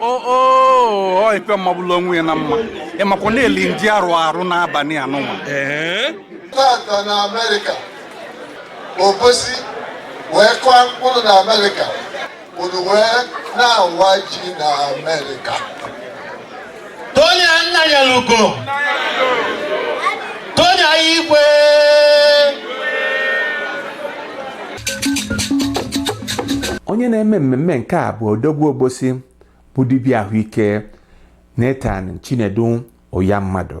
oo ife magbulu onwe ya na mma ịmakwa na-eli ndị arụ arụ n'abalị anụnwa tata na amerịka obosi wee kụọ mkpụrụ na amerịka unu wee na-awa ji na Amerịka Tony Nnanyelugo Tony Ayigwe onye na-eme mmemme nke a bụ odogwu obosi bụ dibịa ahụike Nathan Chinedu Ụyammadụ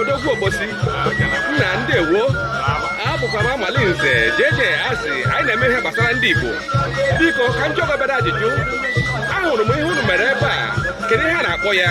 odogwu obosi nna ndewo abụkwa m amali nze jeje asị anyị na-eme ihe gbasara ndị igbo biko ka m jụọ gị obere ajụjụ ahụrụ m ihe unu mere ebe a kedu ihe a na-akpọ ya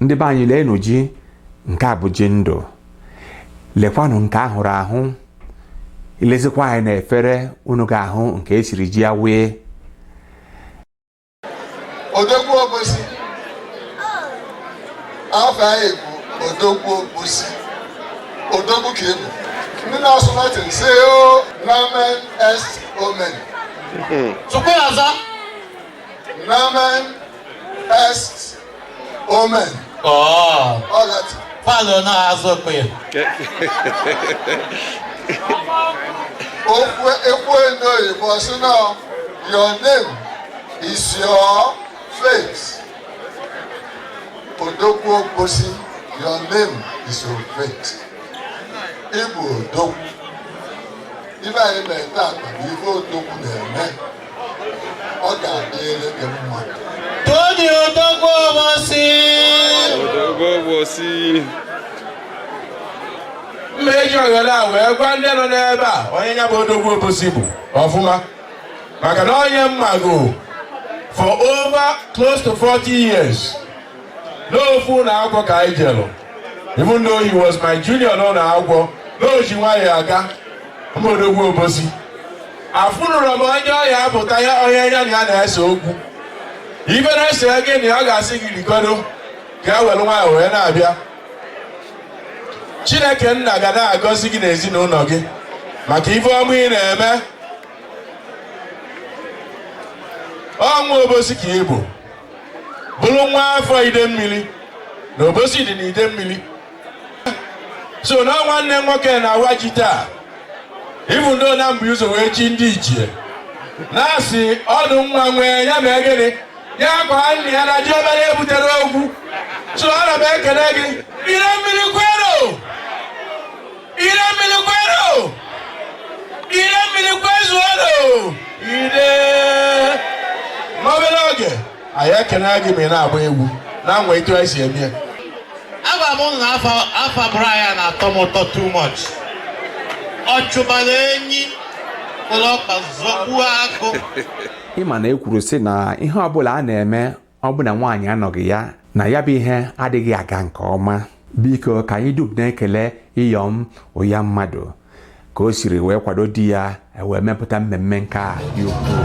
ndị be anyị leenụ ji nke a bụ ji ndụ lekwanụ nke ahụrụ ahụ ilezikwa anya na efere unu ga-ahụ nke esiri ji ya wee odogwu obosi afa gị bụ odogwu obosi odogwu ka ị bụ ndị na-asụ latin sị o nomen est omen tupu ya aza Nomen est omen. Oh. All that. Father, no, I so clear. Okwe ekwe n'oyibo sị na your name is your fate. Odogwu Obosi, your name is your fate. Ị bụ Odogwu. Ife anyị na-ete akpa bụ ife Odogwu na-eme. ọ ga-adịrị gị mma Tony Odogwu Obosi Odogwu Obosi m ga-eji ohere a wee gwa ndị nọ n'ebe a onye nya bụ Odogwu Obosi bụ ọfụma maka na onye m mago for over close to 40 years n'ofu ụnọ akwụkwọ ka anyị jelụ even though he was my junior n'ụnọ akwụkwọ na o ji nwayọ aga bụ odogwu obosi afụnụrọ m onye ọhịa apụta ya onye ya na ya na-ese okwu ife na-ese gị na ọ ga-asị gị rikodo ka e welu nwayọ wee na-abịa chineke nna ga na-agọzi gị na ezinụnọ gị maka ife ọma ị na-eme ọnwa obosi ka ị bụ bụrụ nwa afọ Idemmili na Obosi dị na Idemmili so na ọ nwanne nwoke na-awa ji taa ịbụ ndị na mba ụzọ wee chi ndị ichie na-asị ọdụ nwa nwee ya mee gịnị ya kwaa nna ya na diọkpara ebutere okwu so ana m ekele gị Idemmili kwenu Idemmili kwenu! Idemmili kwezuonu! Iye! N'obere oge, anyị ekene gị ma ị na-agba egwu na nwa etu anyị si eme ya. Agwa m ụnụ na afa fa gụrụ ya na-atọ m ụtọ too much. Ọ chụbara enyi bulu ọkpa zọgbuo agụ. ị ma na e kwuru sị na ihe ọbụla a na-eme ọ bụ na nwaanyị anọghị ya na ya bụ ihe adịghị aga nke ọma biko ka anyị dum na-ekele Iyom Ụyammadụ ka o siri wee kwado di ya wee mepụta mmemme nke a dị ukwuu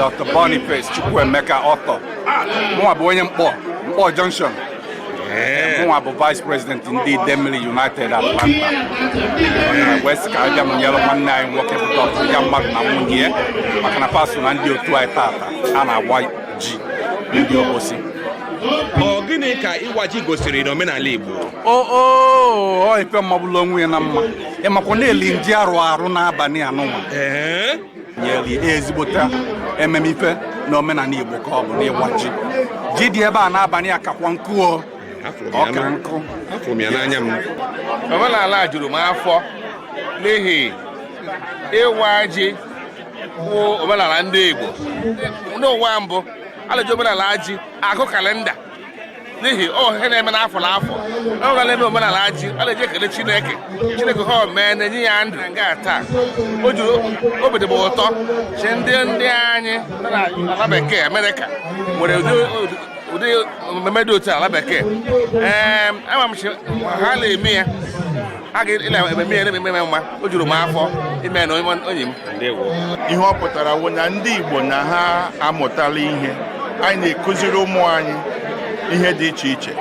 Dr. Boniface Chukwuemeka Ọtọ mụnwa bụ onye Nkpor Nkpor junction mụnwa bụ vice president ndị Idemili United Atlanta wee sị ka abịa m nyere nwanne anyị nwoke bụ dọkịta Ụyammadụ na nwunye ya maka na fa so na ndị otu anyị tata a na-awa ji ndị Obosi ọ gịnị ka ịwa ji gosiri n'omenala Igbo ọ ife magbulu onwe ya na mma ị makwa na-eli ji arụ arụ n'abalị anụnwa nyere ya ezigbo taa ememe ife na omenala Igbo ka ọ bụ n'ịwa ji ji dị ebe a n'abalị a kakwa nkụ o ọ ka nkụ afụrụ m ya n'anya m omenala a juru m afọ n'ihi ịwa ji bụ omenala ndị Igbo n'ụwa mbụ a na-eji omenala ji agụ kalenda n'ihi ọ ihe na-eme n'afọ n'afọ ọ ga na-eme omenala ji a na-eji ekele chineke chineke ha mee na-enye ya ndụ nga taa o juru obi dịbụ ụtọ chi ndị ndị anyị ala bekee amerịka nwere ụdị omume dị otu ala bekee ee ama m ha na-eme ya a ga ịna ememe ya na-ememe ya mma o juru m afọ ime na onye onye m ihe ọ pụtara wụ na ndị Igbo na ha amụtala ihe anyị na-ekụziri ụmụ anyị ihe dị iche iche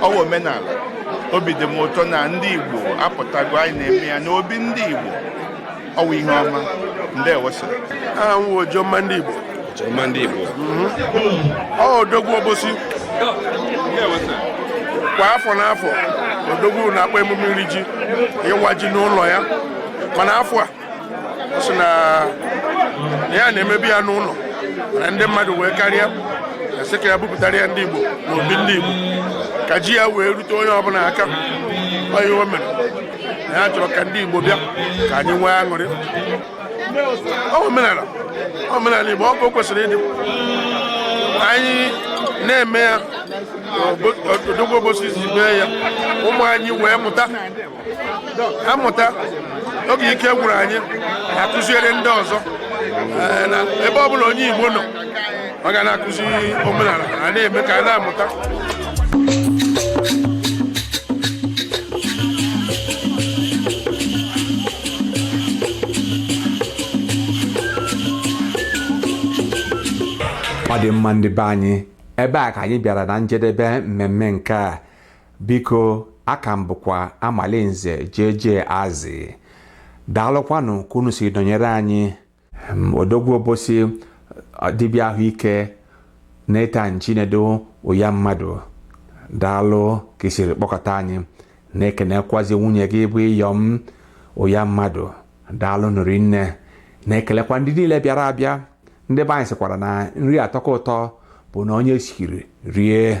ọ wụ omenala obi dị m ụtọ na ndị Igbo apụtago anyị na-eme ya n'obi ndị Igbo ọwụ ihe ọma ndeewo sir aha m wụ Ojomma ndị Igbo Ojomma ndị Igbo ọ odogwu Obosi kwa afọ n'afọ odogwu na-akpọ emume iri ji ịwa ji n'ụlọ ya mana afọ a ọ sị na ya na-emebu ya n'ụlọ mana ndị mmadụ wee karịa a sị ka ya bupụtara ya ndị Igbo na obi ndị Igbo ka ji ya wee rute onye ọbụla aka ọ ihe o mere na ya chọrọ ka ndị Igbo bịa ka anyị nwee aṅụrị omenala omenala Igbo ọ bụ kwesịrị ịdị anyị na-eme ya odogwu Obosi izi mee ya ụmụ anyị wee mụta amụta oge ike gwụrụ anyị akụziere ndị ọzọ eh, ebe ọ bụla onye Igbo nọ ọ ga na-akụzi omenala a na-eme ka a na-amụta ọ dị mma ndị be anyị ebe a ka anyị bịara na njedebe mmemme nke a biko aka m bụkwa Amalinze jeje azị daalụkwanụ ka unu si nọnyere anyị odogwu Obosi dibịa ahụike Nathan Chinedu Uyammadu daalụ ka i siri kpọkọta anyị na-ekenekwazi nwunye gị bụ Iyom Uyammadu daalụnụ rinne na-ekelekwa ndị niile bịara abịa ndị be anyị sịkwara na nri atọka ụtọ bụ na onye siri rie